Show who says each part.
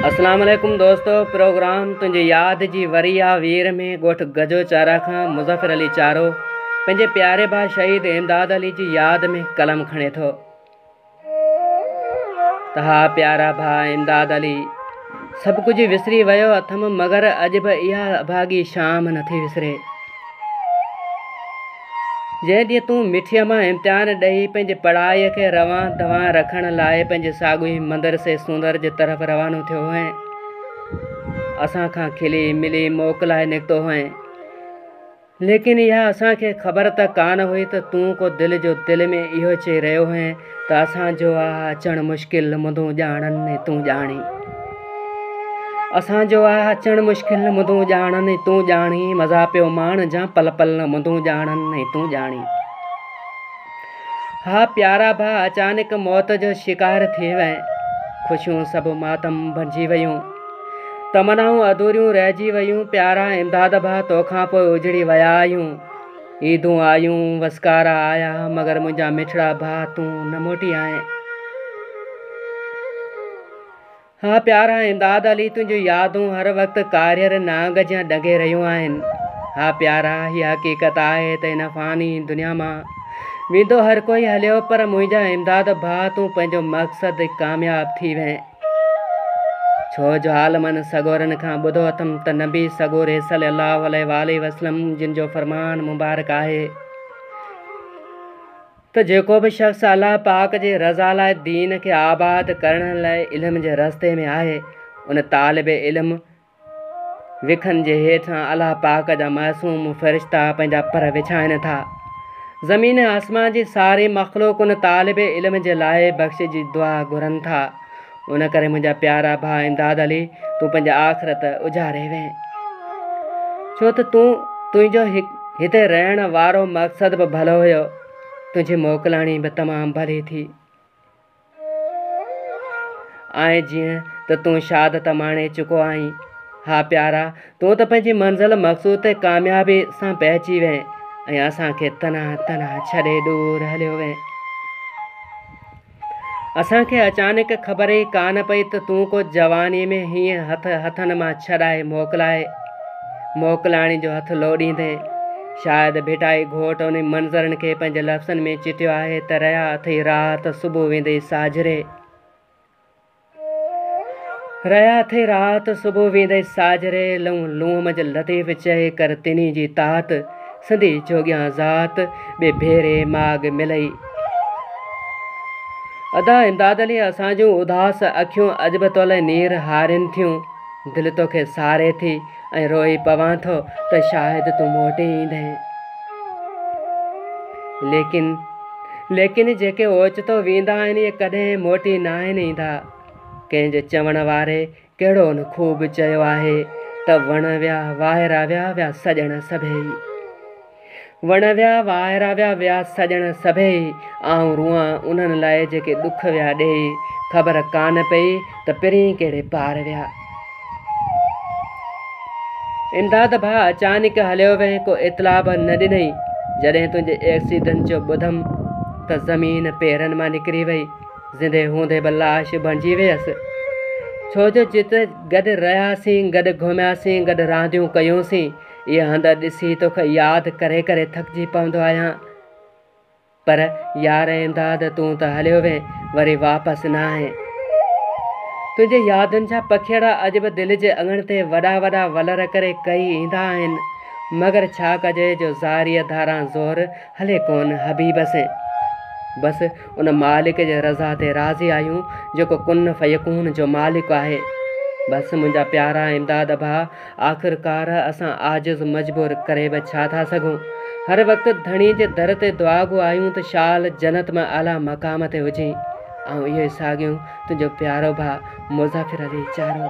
Speaker 1: اسلام عليڪم دوستو پروگرام تنهنجي ياد جي وري آ وير ۾ ڳوٺ گجو چارا کان مظفر علي چارو پنهنجي پياري ڀاء شهيد امداد علي جي ياد ۾ قلم کڻي ٿو ته ها پيارا ڀاء امداد علي سڀ ڪجهه وسري ويو اٿم مگر اڄ به اها اڀاڳي شام نٿي وسري جنهن ڏينهن تون مٺيء مان امتحان ڏئي پنهنجي پڙهائي کي روان دوان رکڻ لاء پنهنجي ساڳئي مدرسي سوندر جي طرف روانو ٿيو هئين، اسان کان کلي ملي موڪلائي نڪتو هئين. ليڪن اها اسان کي خبر ته ڪانه هئي ته تون ڪو دل جو دل ۾ اهو چئي رهيو هئين. ته اسان جو آ اچڻ مشڪل مدون ڄاڻن ۽ تون ڄاڻين اسان جو آ اچڻ مشڪل مدون ڄاڻن ۽ تون ڄاڻين مزا پيو ماڻ جان پل پل نه مدون ڄاڻن ۽ تون ڄاڻين ها پيارا ڀا اچانڪ موت جو شڪار ٿي وئي خوشيون سڀ ماتم بنجي ويون تمنائون اڌوريون رهجي ويون پيارا امداد ڀا توکان پوء اجڙي ويا آهيون عيدون آيون، وسڪارا آيا، مگر منهنجا مٺڙا ڀاء تون نه موٽي آئين. ها پيارا امداد علي، تنهنجون يادون هر وقت ڪاريهر نانگ جيان ڏنگي رهيون آهن. ها پيارا، هيء حقيقت آهي ته هن فاني دنيا مان ويندو هر ڪوئي هليو، پر منهنجا امداد ڀاء تون پنهنجو مقصد ڪامياب ٿي وئين. ڇو جو حال من سڳورن کان ٻڌو اٿم ته نبي سڳوري صلّي اللّٰه عليه واٰله وسلّم جن جو فرمان مبارڪ آهي ته جيڪو به شخص الله پاڪ جي رضا لاء دين کي آباد ڪرڻ لاء علم جي رستي ۾ آهي ان طالب علم وکن جي هيٺان الله پاڪ جا معصوم فرشتا پنهنجا پر وڇائن ٿا. زمين ۽ آسمان جي ساري مخلوق ان طالب علم جي لاء بخش جي دعا گهرن ٿا. ان ڪري منهنجا پيارا ڀاء امداد علي تون پنهنجي آخرت اجاري وين. ڇو ته تون تنهنجو هتي رهڻ وارو مقصد به ڀلو هيو. تنهنجي موڪلاڻي به تمام ڀلي ٿي. آهي جيئن ته تون شاد ته ماڻي چڪو آهين. ها پيارا، تون ته پنهنجي منزل مقصود تي ڪاميابي سان پهچي وئين ۽ اسان کي تنها تنها ڇڏي ڏور هليو وئين. اسان کي اچانڪ خبر ئي ڪانه پئي ته تون ڪو جواني ۾ هيئن هٿ هٿن مان ڇڏائي موڪلائي موڪلاڻي جو هٿ لوڏيندين. شايد ڀيٽائي گهوٽ انهن منظرن کي پنهنجي لفظن ۾ چٽيو آهي ته رهيا اٿئي راحت صبح ويندي ساجهري. رهيا اٿئي راحت صبح ويندي ساجهري، لئون لونء منجهه لطيف چئي ڪر تنهي جي تاحت، سنڌي جوڳيان ذات، ٻي ڀيري ماڳ ملئي. ادا امداد علي اسان جون اداس اکيون اڄ به تولئي نير هارين ٿيون، دل توکي ساري ٿي. ۽ روئي پوان ٿو ته شايد تون موٽي ايندين. ليڪن ليڪن جيڪي اوچتو ويندا آهن اهي ڪڏهن موٽي ناهن ايندا. ڪنهن جو چوڻ واري ڪهڙو نه خوب چيو آهي ته وڻ ويا وائرا ويا ويا سڄڻ سڀيئي. وڻ ويا وائرا ويا ويا سڄڻ سڀيئي، آئون روئان انهن لاء جيڪي ڏک ويا ڏيئي، خبر ڪانه پئي ته پرين ڪهڙي پار ويا. امداد ڀاء اچانڪ هليو وئين ڪو اطلاع به نه ڏنئي، جڏهن تنهنجي ايڪسيڊنٽ جو ٻڌم ته زمين پيرن مان نڪري وئي، زندي هوندي به لاش بڻجي ويس، ڇو جو جت گڏ رهياسين، گڏ گهمياسين، گڏ رانديون ڪيونسين. اهي هنڌ ڏسي توکي ياد ڪري ڪري ٿڪجي پوندو آهيان پر يار امداد تون ته هليو وين وري واپس نه آهين تنهنجي يادن جا پکيڙا اڄ به دل جي اڱڻ تي وڏا وڏا ولر ڪري ڪهي ايندا آهن مگر ڇا ڪجي جو زاريء ڌاران زور هلي ڪون حبيب سين بس ان مالڪ جي رضا تي راضي آهيون جيڪو ڪن فيڪون جو مالڪ آهي بس منهنجا پيارا امداد ڀا آخرڪار اسان عاجز مجبور ڪري به ڇا ٿا سگهون. هر وقت ڌڻي جي در تي دعاگو آهيون ته شال جنت ۾ اعليٰ مقام تي هجين. آئون اهو ئي ساڳيون تنهنجو پيارو ڀاء مظفر علي چارو.